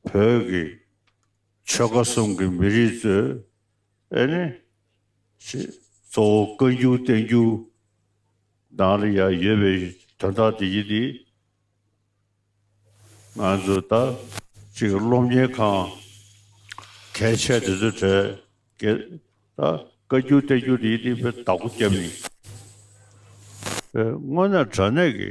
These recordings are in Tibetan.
བོད་ཀྱི་ཆོལ་ཁ་གསུམ་གྱི་མི་རིགས་ཚོས་ཨེ་ནི་ཞེས་གཙོ་བོ་བཀའ་འགྱུར་བསྟན་འགྱུར་དང་ལ་ཡང་ཡོད་པའི་དོན་དག་འདི་གཉིས་ནི་ང་ཚོ་ད་ཅིག་སློབ་གཉེར་ཁང་གལ་ཆེ་འདི་ཚོའི་གྲས་ཀྱི་ད་བཀའ་འགྱུར་བསྟན་འགྱུར་འདི་གཉིས་ནི་བདག་པོ་སྐྱབས་ཡིན་པས་སྔོན་ན་དྲ་གནས་ཀྱི་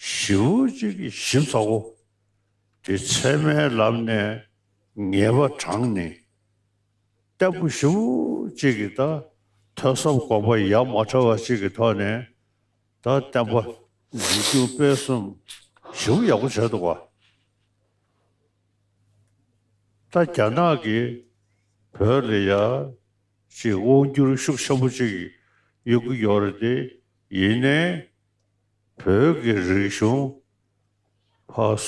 བཞི་བོ་གཅིག་གི་བཞི་ཚ་བོ། དེ་ཚད་མའི་ལམ་ནས་ངེས་པ་དྲངས་ནས། ལྟ་བུ་བཞི་བོ་གཅིག་གི་ད་ཐོས་བསམ་གོམས་པ་ཡ་མ་བྲལ་བ་གཅིག་གི་ཐོག་ནས་ད་བསྟན་པ་འཛིན་སྐྱོང་སྤེལ་གསུམ་བཞི་བོ་ཡག་པོ་བྱེད་ཐུབ་པ། ད་རྒྱ་ནག་གིས་བོད་ལ་ཡ་གཅིག་དབང་བསྒྱུར་ཤུགས་ཆེན་པོ་གཅིག་ཡོད་ཀྱི་ཡོད་རེད་དེ་ཡིན་ནའི། བོད་ཀྱི་རིག་གཞུང་ཕ།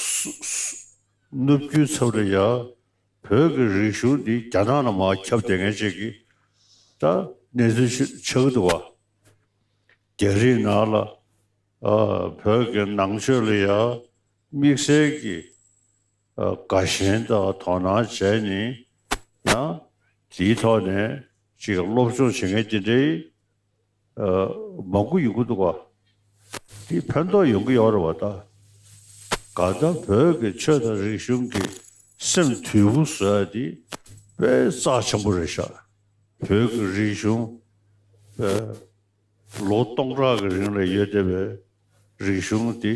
ནུབ་རྒྱུད་ཚབ་ཏུ་ཡ། བོད་ཀྱི་རིག་གཞུང་འདི་རྒྱ་ནག་ནང་མ་ཁྱབ་དེ་ངས་ཅེས་ཀྱི། ད་གནས་ཚུལ་ཆགས་ཀྱི་འདུག་བ། རྒྱ་རིགས་ནག་ལ། བོད་ཀྱི་ནང་ཆོས་ལ་ཡ། དམིགས་བསལ་གྱི། དགའ་ཞེན་དང་དོ་སྣང་བྱས་ནི། ཡང། དེའི་ཐོག་ནས་ཅིག་སློབ་སྦྱོང་བྱེད་མཁན་དེ་འདྲའི། མང་གུ་ཡུ་གུ་འདུག་བ། དེའི་ཕན་ཐོག་ཡོང་གི་ཡོག་རེད་བ་ད། ག་དང་བོད་ཀྱི་ཆོས་དང་རིག་གཞུང་གི་སེམས་དུལ་བོ་བཟོས་དེ་དཔེ་རྩ་ཆེན་པོ་རེད་ཤག་བོད་ཀྱི་རིག་གཞུང་དཔེ། ལོ་སྟོང་ཕྲག་གི་རིང་ལ་ཡོད་བསྡད་པའི་རིག་གཞུང་དེ་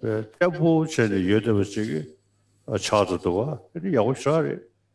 དཔེ་གཏད་པོ་བྱས་ནས་ཡོད་བསྡད་པ་ཅིག་ཆགས་འདུག་བ་དེ་ཡག་པོ་ཤག་རེད